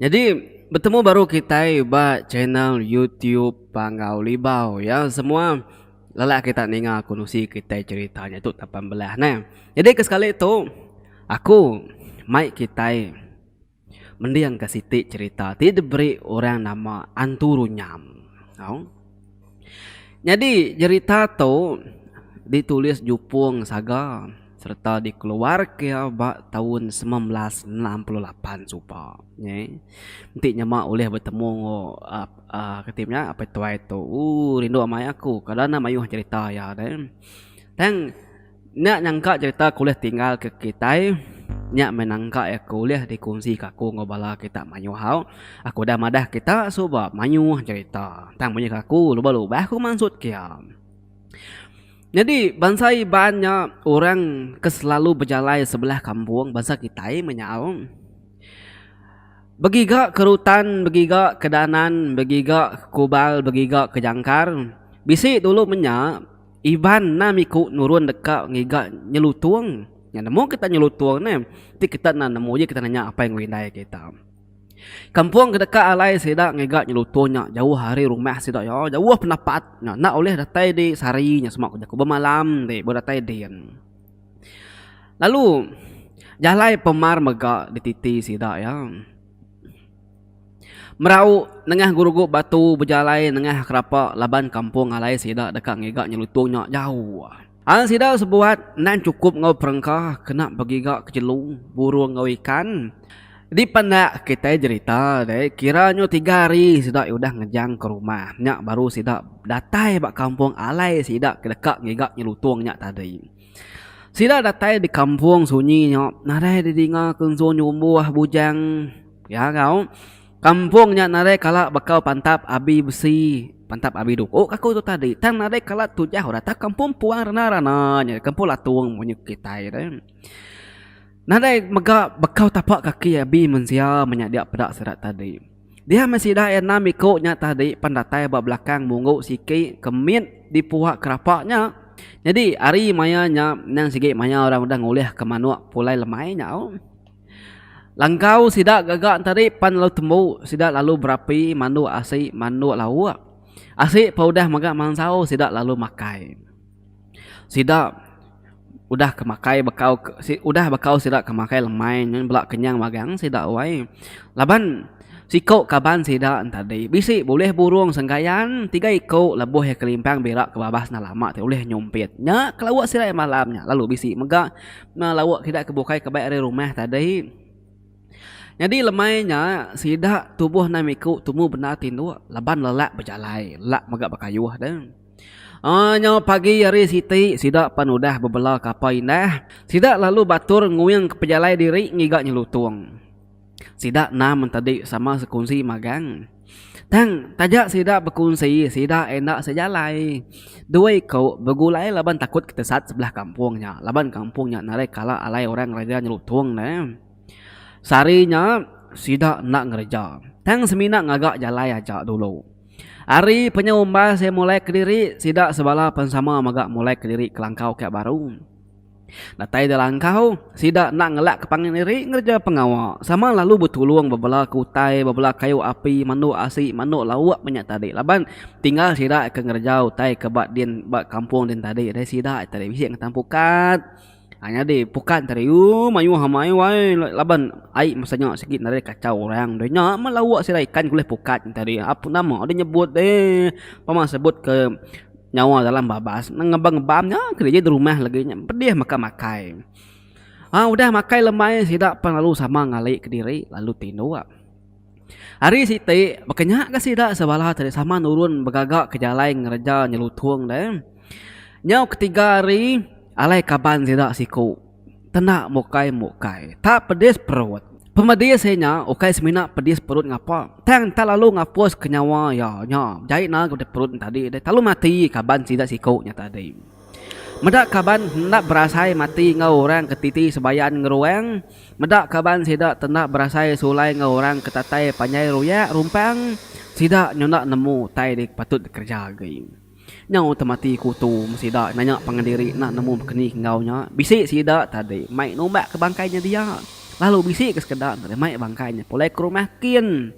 Nyadi betemu baru kitai ba channel YouTube Panggau Libau ya semua lelak kita ninga aku nusi kitai cerita nya tu taban belah neh. Jadi kesekali tu aku mai kitai. Mending ka siti cerita ti diberi orang nama Antu Runyam. Au. Nyadi jerita tu ditulis Jupong Saga sereta dikeluarka ba taun semilan belas enam puluh lapan suba. Nyi enti nyema ulih betemu enggau aaa kati inya Apai Tuai tu. Ooh rindu amai aku. Kada anang mayuh cerita iya deh. Tang. Nya nyangka cerita ke ulih tinggal ke kitai nya meh nangka iya ke ulih dikongsi ke aku enggau bala kita mayuh hau. Aku udah madah kita suba mayuh cerita tang mung nyadi ke aku lubah-lubah ku mansut ke iya. Nyadi bansa Iban nya orang ke selalu bejalai sebelah kampung bansa kitai meh nyau. Begiga ke rutan, begiga ke danan, begiga ke kubal, begiga ke jangkar. Bisi dulu meh nya. Iban enda miku nurun deka ngiga nyelutung. Nya nemu kita nyelutung ne, ti kita enda nemu ji kita nanya apai enggau indai kita. Kampung ke deka alai sida ngiga nyelutung nya jauh ari rumah sida iya, jauh pendapat nya enda ulih datai di sehari nya sema ku jaku bemalam ti baru datai din. Lalu jalai pemar mega dititi sida iya. Merau nengah gurugu batu bejalai nengah kerapa laban kampung alai sida deka ngiga nyelutung nya jauh. An sida sebuat endang chukup enggau perengka kena begiga ke jelu, burung enggau ikan. Dipendak kitai jerita deh, kira nyu tiga hari sida udah ngejang ke rumah nya baru sida datai ba kampung alai sida ke deka ngiga nyelutung nya tadi. Sida datai di kampung sunyi nya nadai didinga ke ensu nyumbuh bujang pia enggau kampung nya nadai kala bakau pantap abi besi pantap abi duku ka aku tu tadi tang nadai kala tujau ora tau kampung puang rana-rana nya kampung latung munyi kitai ri nadai mega bakau tapak kaki abi mensia menyadi peda sida tadi. Dia meh sida enam iku nya tadi pan datai ba belakang munggu siki ke mit di puak kerapa nya. Nyadi ari maya nya endang sigi maya orang udah ngulih ke manuk pulai lemai nyau. Langkau sida gaga tadi pan lalu tembu sida lalu berapi mandu asi mandu lauk. Asi pun udah mega mansau sida lalu makai. Sida udah ke makai bekau ke udah bekau sida ke makai lemai ngan bela kenyang magang sida wai. Laban siko kaban sida en tadi bisi bulih burong senggayan tiga iko lebuh iya kelimpang bira ke babas enda lama ti ulih nyompit. Nya ke lawa sida iya malam nya lalu bisi mega na lawa kida ke bukai ke bai ari rumah tadi. Nyadi lemai nya sida tubuh nang iko tumu bendar tinduk laban lelak bejalai lelak mega bekayuh deh. Nya pagi hari siti, sida pan udah bebela kapal indah. Sida lalu batur nguingka pejalai diri ngiga nyelutung. Sida enam entadi sama sekunsi magang. Tang, taja sida bekunsi, sida enda sejalai. Dua iku begulai laban takut ke tesat sebelah kampung nya laban kampung nya narai kala alai orang ngereja nyelutung ne. Sehari nya, sida enda ngereja tang semina ngaga jalai aja dulu. Ari penyu umbai seh mulai kediri sida sebala pen sama mega mulai kediri kelangkau ka baru. Datai ida langkau, sida enda ngelak ke pangan diri ngereja pengawa sama lalu betulung bebela ke utai bebela kayu api manduk asi manduk lauk menya tadi laban tinggal sida ke ngereja utai ke ba din ba kampung din tadi deh sida tadi bisi ngetan pukat. Nyadi, pukat enti hari uu mayuh amai wai laban ai masa nya sigi nadai kachau orang deh. Nya meh lauk sida ikan ke ulih pukat enti hari. Apu nama deh nyebut deh. Pama sebut ke nyawa dalam babas nang ngebam ngebam nya kereja di rumah lagi nya pedih mega makai. Aa udah makai lembai sida pan lalu sama ngali kediri lalu tinduk. Hari siti, baka nya ga sida sebala tadi sama nurun begaga ke jalai ngereja nyelutung deh. Nyau ketiga hari, alai kaban sida siku tenda mukai-mukai. Tak pedis perut. Pemedis iya nya ukai semina pedis perut ngapa, tang enda lalu ngapuska nyawa iya nya. Jai enda ga perut nya tadi deh. Telalu mati kaban sida siku nya tadi. Meda kaban enda berasai mati enggau orang ke titi sebayan ngeruang. Meda kaban sida tenda berasai sulai enggau orang ke tatai panjai ruyak rumpang, sida nyau enda nemu utai ti patut dikereja agi. Nyau temati kutu meh sida nanya pangan diri enda nemu bekeni ke enggau nya. Bisi sida tadi mai numbak ke bangkai nya dia, lalu bisi ke sekeda nerima bangkai nya pulai ke rumah kin.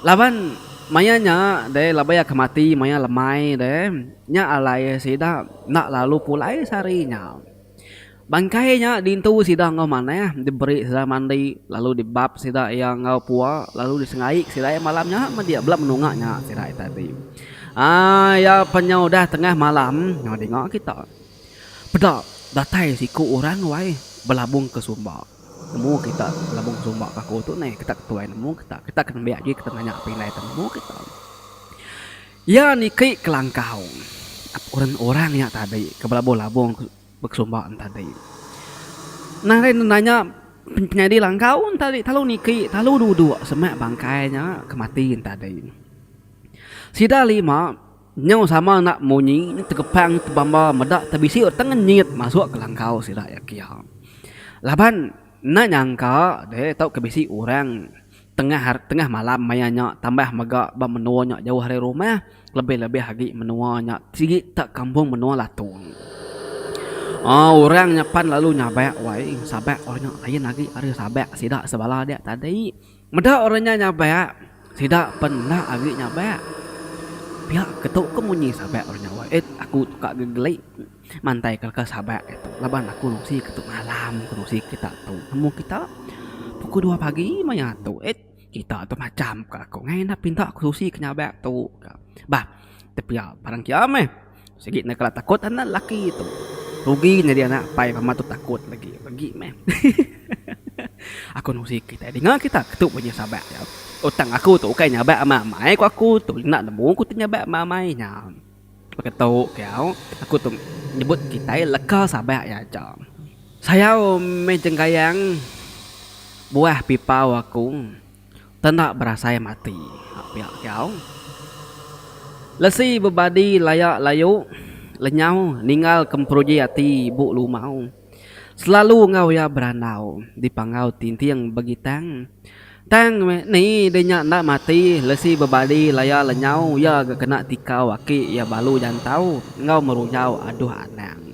Laban maya nya deh laban iya ke mati maya lemai deh nya alai sida enda lalu pulai sehari nya. Bangkai nya dintu sida enggau manah diberi sida mandi lalu dibap sida iya enggau pua lalu disengaik sida iya malam nya media bala menunga nya sida ita ti. Aaa iya pa nya udah tengah malam dinga kita peda datai siku orang wai belabung ke sumba. Nemu kita labung sumba ke aku tu neh kita ke tuai nemu kita. Kita ke nembiak agi kita nanya api indai kita nemu kita. Iya niki kelangkau orang orang nya tadi ke belabuh labung ke sumba tadi. Nah lain nanya penyadi langkau tadi telalu niki telalu duduk semak bangkai nya ke mati tadi. Sida lima. Nyau sama enda munyi nya tegepang tebamba meda tebisiu tang nyit masuk ke langkau sida iya kia. Laban enda nyangka deh tauka bisi orang tengah tengah malam maya nya tambah mega ba menua nya jauh ari rumah lebih lebih agi menua nya sigi tak kampung menua Latung. Aaa orang nya pan lalu nyabak wai sabak orang nya lain agi ari sabak sida sebala dia tadi. Meda orang nya nyabak, sida pen enda agi nyabak. Pia ketu ke munyi sabak orang nya wai. Eit aku tuka gegeli mantai ke leka sabak ke tu laban aku nusi ke tu malam ke nusi kita tu. Amu kita pukul dua pagi maya tu. Eit kita tu macam ka aku ngai enda pinta ke nusi ke nyabak tu ka. Bah, tepia barang kia meh. Sigi enda kala takut anak lelaki tu. Rugi nyadi anak pai pama tu takut lagi. Bagi meh. aku nusi kitai dinga kita ke tu bunyi sabak dia. Utang aku tu ukai nyabak amai-amai ku aku tu. Enda nemu ku tu nyabak amai-amai nya. Baka tu ke au, aku tu nyebut kitai leka sabak iya aja. Sayau meh jenggayang buah pipau aku. Tanda berasai mati ba pia kiau. Lesi bebadi laya layu lenyau ninggal kemperuji ati ibu lumau. Selalu enggau iya berandau dipangau tinting begitang. Tang meh ni deh nya enda mati lesi bebadi laya lenyau iya ga kena tikau aki iya balu jantau enggau merujau aduh anang.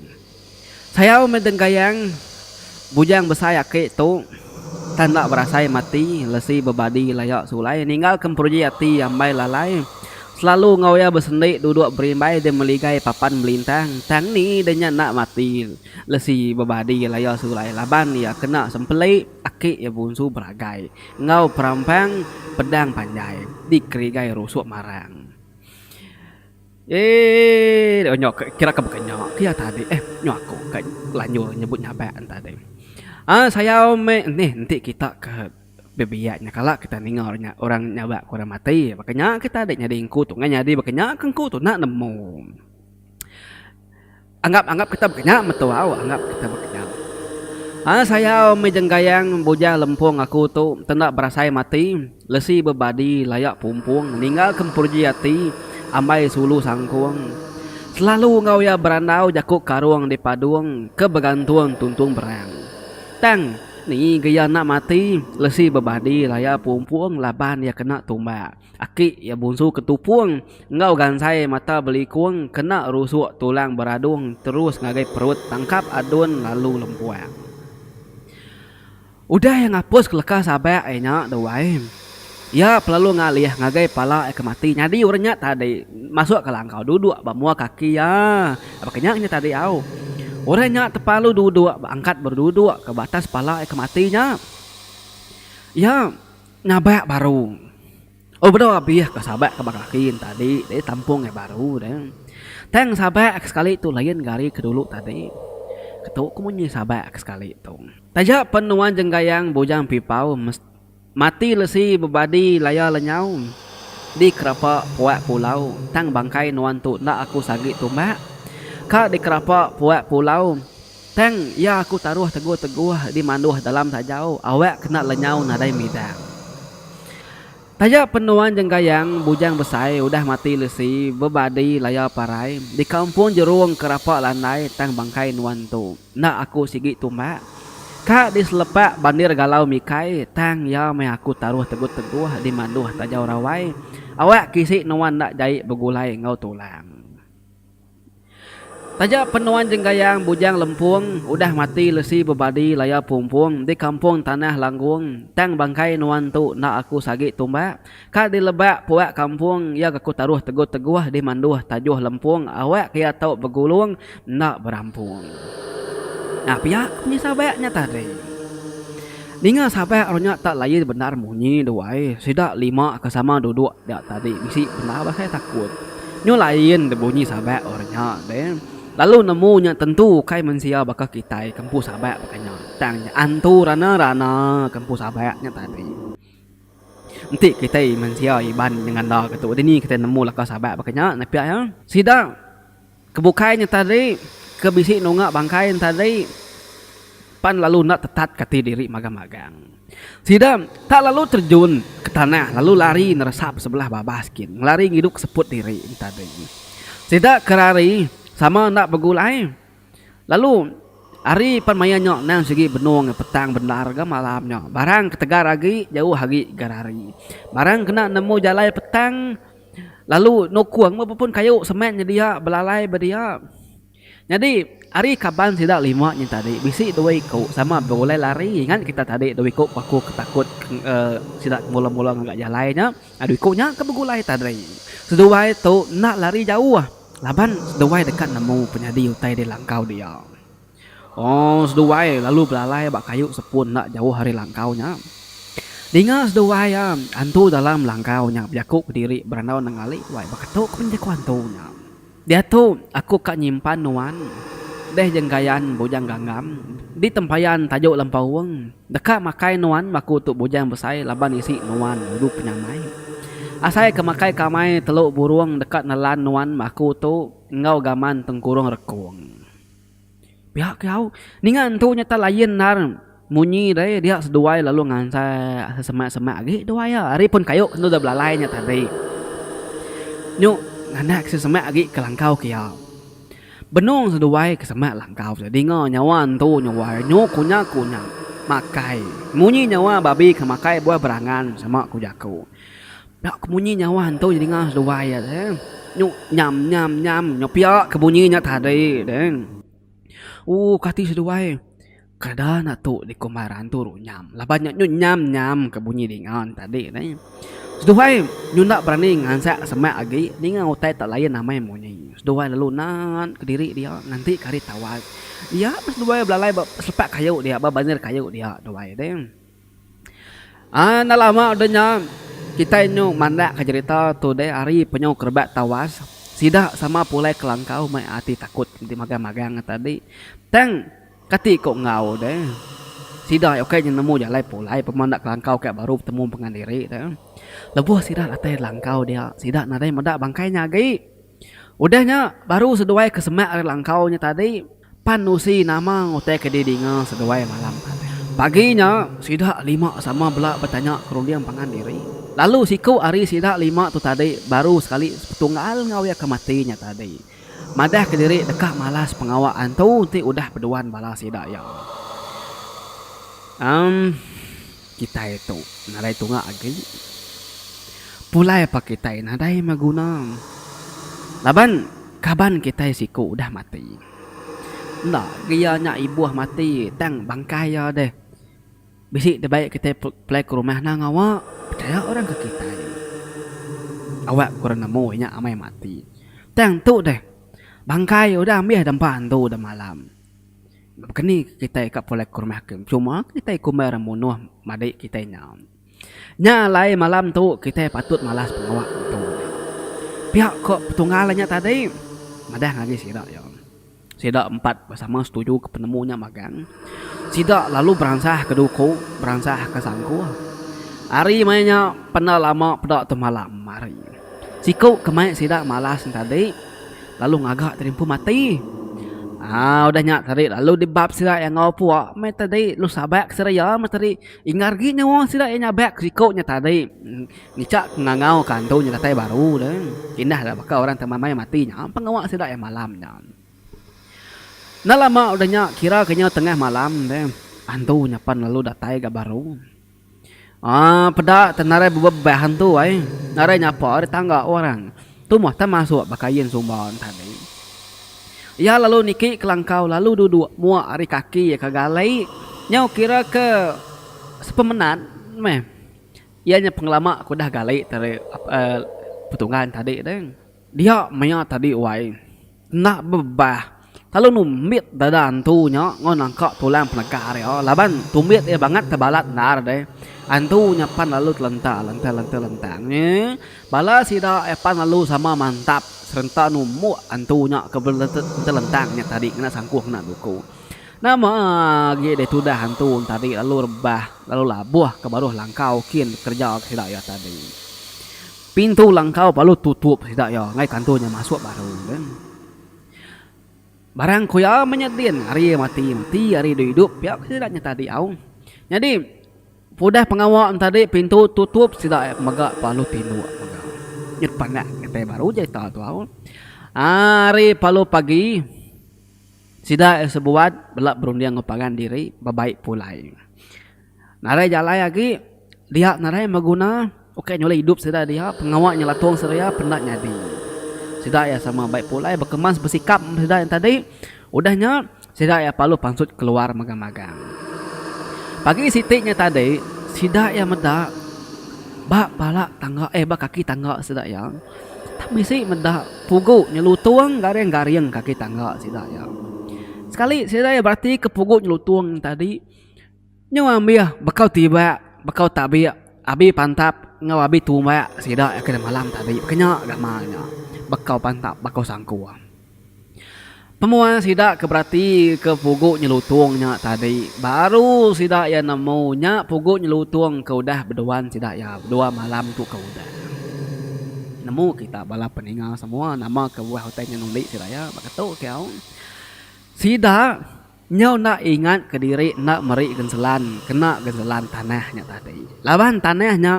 Sayau meh dengkayang bujang besai aki tu tang enda berasai mati lesi bebadi laya sulai ninggal ke emperuji ati ambai lalai selalu enggau iya besendi duduk berimbai di meligai papan belintang tang ni ida nya enda mati lesi bebadi laya sulai laban iya kena sempeli aki iya bunsu beragai enggau perampang pedang panjai di kerigai rusuk marang. Eeii onyo ke kira ke baka nya ke iya tadi eh nyo aku ka lanjur nyebut nyabak en tadi. Aa sayau meh enih enti kita ke bebiak nya kala kita ninga orang nyabak ke orang mati baka nya ke tadi nyadi engku tu nyadi baka nya ke engku tu enda nemu. Anggap anggap kita bekenyam betul au anggap kita bekenyam. Ai sayau mih jenggayang bujang lempung aku tu tenda berasai mati lesi bebadi layak pumpung ninggal ke emperuji ati ambai sulu sangkung selalu enggau iya berandau jaku karung di padung ke begantung tuntung berang tang ni ga iya enda mati lesi bebadi layak pumpung laban iya kena tumbak. Aki iya bunsu ke tupung enggau gansai mata belikung kena rusuk tulang beradung terus ngagai perut tangkap adun lalu lempuang. Udah iya ngapus ke leka sabak iya nya dau ai, iya pelalu ngalih ngagai pala iya ke mati nyadi orang nya tadi masuk ke langkau duduk ba mua kaki iya baka nya inya tadi au. Orang nya tepalu duduk ba angkat beduduk ke batas pala iya ke mati nya. Iya. Ngabak baru. Oh bedau abih ka sabak ka ba kaki ne tadi deh tampung ngai baru deh. Tang sabak ke sekali tu lain ga ari ke dulu tadi. Ketu ke munyi sabak ke sekali tu. Taja pen nuan jenggayang bujang pipau mes mati lesi bebadi laya lenyau di kerapa puak pulau tang bangkai nuan tu enda aku sagi tumbak ka di kerapa puak pulau. Tang iya aku taruh teguh-teguh di manduh dalam sajau awak kena lenyau nadai midang. Taja penuan jenggayang bujang besai udah mati lesi bebadi laya parai di kampung jerung ke rapa landai tang bangkai nuan entu enda aku sigi tumbak ka di selepak bandir galau mikai tang iya meh aku taruh teguh-teguh di manduh tajau rawai awak kisi nuan enda jai begulai enggau tulang. Taja Penuan Jenggayang Bujang Lempung udah mati lesi bebadi laya pumpung di Kampung Tanah Langgung tang bangkai nuan tu enda aku sagi tumbak ka dilebak puak kampung iya gaku taruh teguh-teguh di manduh tajuh lempung awak ke iya tau begulung enda berampung. Nya pia penyesal bayak nya tadi. Ninga sapai orang nya tak laie bendar munyi duai sida lima ke sama duduk dia tadi bisi bendar basai takut. Nyu laien de bunyi sabai orang nya de lalu nemu nya tentu ukai mensia baka kitai ke empu sabai baka nya tang nya antu rana-rana ke empu sabai nya tadi. Enti kitai mensia Iban nyengandaka tu dini kitai nemu laka sabai baka nya nepia iya. Sida. Ke bukai nya tadi, ke bisi nunga bangkai nya tadi, pan lalu enda tetat ke ati diri magang-magang. Sida tak lalu terjun ke tanah lalu lari neresa besebelah babas gin, ngelari ngidup ke seput diri nya tadi. Sida ke rari sama enda begulai lalu ari pan maya nya endang sigi benung petang bendar ga malam nya. Barang ke tegar agi jauh agi ga rari. Barang kena nemu jalai petang. Lalu nukung meh pepun kayu semen nyedia belalai ba dia. Nyadi, ari kaban sida lima nya tadi, bisi dua iku sama begulai lari. Ingat kita tadi dua iku paku ke takut sida ke mula-mula ngaga jalai nya, dua iku nya ke begulai tadi. Seduai tu enda lari jauh laban seduai deka nemu penyadi utai di langkau dia. Ong seduai lalu belalai ba kayu sepun enda jauh ari langkau nya. Dinga seduai iya, antu dalam langkau nya bejaku ke diri berandau nengali wai beketuk pun jaku antu nya. Diatu aku ka nyimpan nuan. Deh jenggayan Bujang Ganggam. Di tempayan tajuk Lempaung. Deka makai nuan baku tu Bujang Besai laban isi nuan dulu penyamai. Asai ke makai kamai telu burung deka nelan nuan baku tu enggau gaman tengkurung rekung. Pihak ke au ninga entu nyata lain endar munyi deh dia seduai lalu ngansai sesemak semak agi duai iya ari pun kayu enda deh belalai nya tadi nyu nganak ke semak agi ke langkau ke iya benung seduai ke semak langkau ke dinga nyawa entu nyu wai nyu kunya kunya makai munyi nyawa babi ke makai buah berangan sama ku jaku. Nya ke bunyi nya wan tu nyeringa seduai iya deh. Nyu nyam nyam nyam nya pia ke bunyi nya tadi deh. Ooh kati seduai kada enda tu dikumaran turu nyam laban nya nyu nyam nyam ke bunyi dingan tadi deh. Seduai nyu enda berani ngansak semak agi ninga utai tak layan amai munyi. Seduai lalu naan kediri dia nganti ke hari tawai. Dia meh seduai belalai ba sepak kayu dia ba bandir kayu dia duai deh. Enda lama udah nya, kitai nyu mandakka cherita tu deh ari penyu kerebat tawas. Sida sama pulai kelangkau mai ati takut enti magang-magang nya tadi. Tang kati ko enggau deh, sida iya ukai nya nemu jalai pulai pemeh enda kelangkau ka baru betemu pengan diri deh. Lebuh sida datai langkau dia, sida nadai meda bangkai nya agi. Udah nya, baru seduai ke semak ari langkau nya tadi, pan nusi nama ngutai ke didinga seduai malam. Pagi nya, sida lima sama bela betanya ke runding pangan diri, lalu siku ari sida lima tu tadi baru sekali sepetunggal enggau iya ke mati nya tadi, madah ke diri deka malas pengawa antu enti udah beduan bala sida iya. Em. Kitai tu nadai tunga agi. Pulai pa kitai nadai beguna. Laban kaban kitai siku udah mati. Enda agi iya nya ibuh mati tang bangkai iya deh. Bisi dibai kitai pulai ke rumah nang ngawa pechaya orang ke kitai. Awak ku orang nemu inya amai mati. Tang tu deh bangkai udah ambih dempa andu demalam. Keni kitai ka pulai ke rumah hakim cuma kitai kumbai orang munoh madi kitai nya. Nya alai malam tu kitai patut malas pengawa ngetu nya. Pia ko petunggal nya tadi madah ngagai sida iya. Sida empat sama setuju ke penemu nya magang. Sida lalu beransah ke duku beransah ke sangkuh. Hari maya nya penda lama peda tu malam hari. Siku ke mai sida malas nya tadi lalu ngaga tadi empu mati. Aa udah nya tadi lalu dibab sida iya enggau pua meh tadi lu sabai ke sida iya meh tadi ingar agi nyawa sida iya nyabai ke siku nya tadi. Ngicak ngangau ka antu nya datai baru deh. Indah nya baka orang ke meh mati nya pengawa sida iya malam nya. Enda lama udah nya kira ke nya tengah malam deh antu nya pan lalu datai ga baru. Aa peda teh narai bebebah antu ai, narai nyapa ari tangga orang. Tumoh teh masuk baka yin sumba entadi. Iya lalu niki kelangkau lalu duduk muak ari kaki iya ke galai. Nyau kira ke sepemenat meh. Iya nya pengelama ke udah galai tadi aaa petungga entadi deh. Dia maya tadi wai. Enda bebah. Lalu numbit dada antu nya enggau nangka tulang penega ria laban tumbit iya bangat ke balat endar deh. Antu nya pan lalu telenta lentang lentang lentang nyi. Bala sida iya pan lalu sama mantap serenta numbuk antu nya ke lentang lentang nya tadi ngena sangkuh ngena duku. Nama agi deh tudah antu nya tadi lalu rebah lalu labuh ke baruh langkau kin kerja sida iya tadi. Pintu langkau balu tutup sida iya enggai tantu nya masuk baru kan. Barang ku iya meh nya din hari iya mati iya mati hari iya duduk iya duduk pia ke sida nya tadi au. Nyadi udah pengawa nya tadi pintu tutup sida iya mega balu tinduk mega nyet pandak kitai baru cerita tu au. Hari palu pagi sida iya sebuat bela berunding enggau pangan diri bebaik pulai. Narai jalai agi dia narai beguna ukai nyulai idup sida dia pengawa nyelatung seria penda nyadi. Sida iya sama bai pulai bekemas besikap meh sida yang tadi udah nya sida iya parlu pansut keluar magang-magang. Pagi siti nya tadi sida iya meda ba pala tangga eh ba kaki tangga sida iya tak bisi meda pugu nyelutung garing-garing kaki tangga sida iya. Sekali sida iya berati ke pugu nyelutung tadi. Nyau ambih bekau tibak, bekau tabik, abi pantap enggau abi tumbak sida iya ke malam tadi baka nya gamal nya bekau pantap bekau sangku. Pemua sida ke berati ke pugu nyelutong nya tadi baru sida iya nemu nya pugu nyelutong ke udah beduan sida iya dua malam tu ke udah. Nemu kita bala peninga semua nama ke buah utai nya ngundi sida iya baka tu kau sida. Nyau enda ingat ke diri enda meri genselan kena genselan tanah nya tadi. Laban tanah nya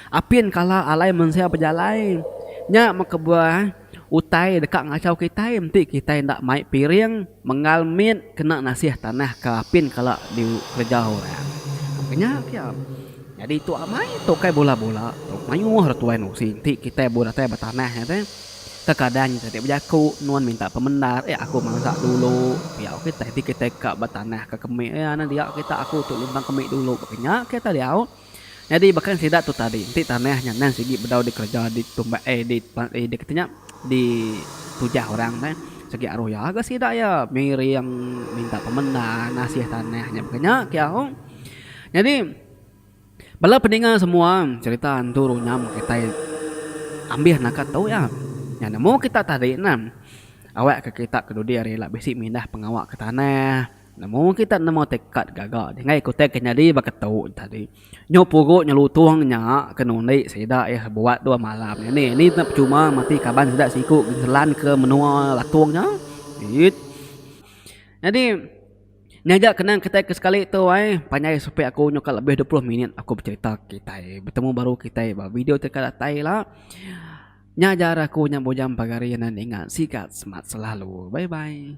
apin kala alai mensia bejalai. Nya meh kebuah utai deka ngachau kitai enti kitai enda mai piring menggal mit kena nasih tanah ke apin kala dikereja orang. Ku nya pia. Nyadi tu amai tu kai bula-bula. Mayuh ra tuai nusi enti kitai buh datai betanah nya teh. Kekadang kita ti bejaku nuan minta pemendar iya aku mansa dulu diau kitai ti kitai ka ba tanah ka kemi iya nya dia kita aku tu lumbang kemi dulu baka nya kita diau nyadi baka ni sida tu tadi enti tanah nya endang sigi bedau dikereja ditumbai ai di ai di kati nya di tujah orang meh sigi aroh iya ga sida iya miring minta pemendar ngasih tanah nya baka nya kiau nyadi. Bala peninga semua cherita antu runyam kitai ambih naka tu iya. Nya nemu kita tadi ne awak ke kita ke dudi ari ila bisi mindah pengawa ke tanah nemu kita nemu tiket gaga dingai kutai ke nyadi ba ke tu tadi. Nyu pugu nyelutong nya ke nundi sida iya buat dua malam ini ni ne percuma mati kaban sida siku ke telan ke menua Latong nya. Eit. Nyadi Nya aja kenang kitai ke sekali tu ai. Panjai supit aku nyau ka lebih dua puluh minit aku becerita kitai betemu baru kitai ba video ti ka datai ila. Nya aja ari aku nya Bujang Pagari enda ninga sigat semat selalu. Bye bye.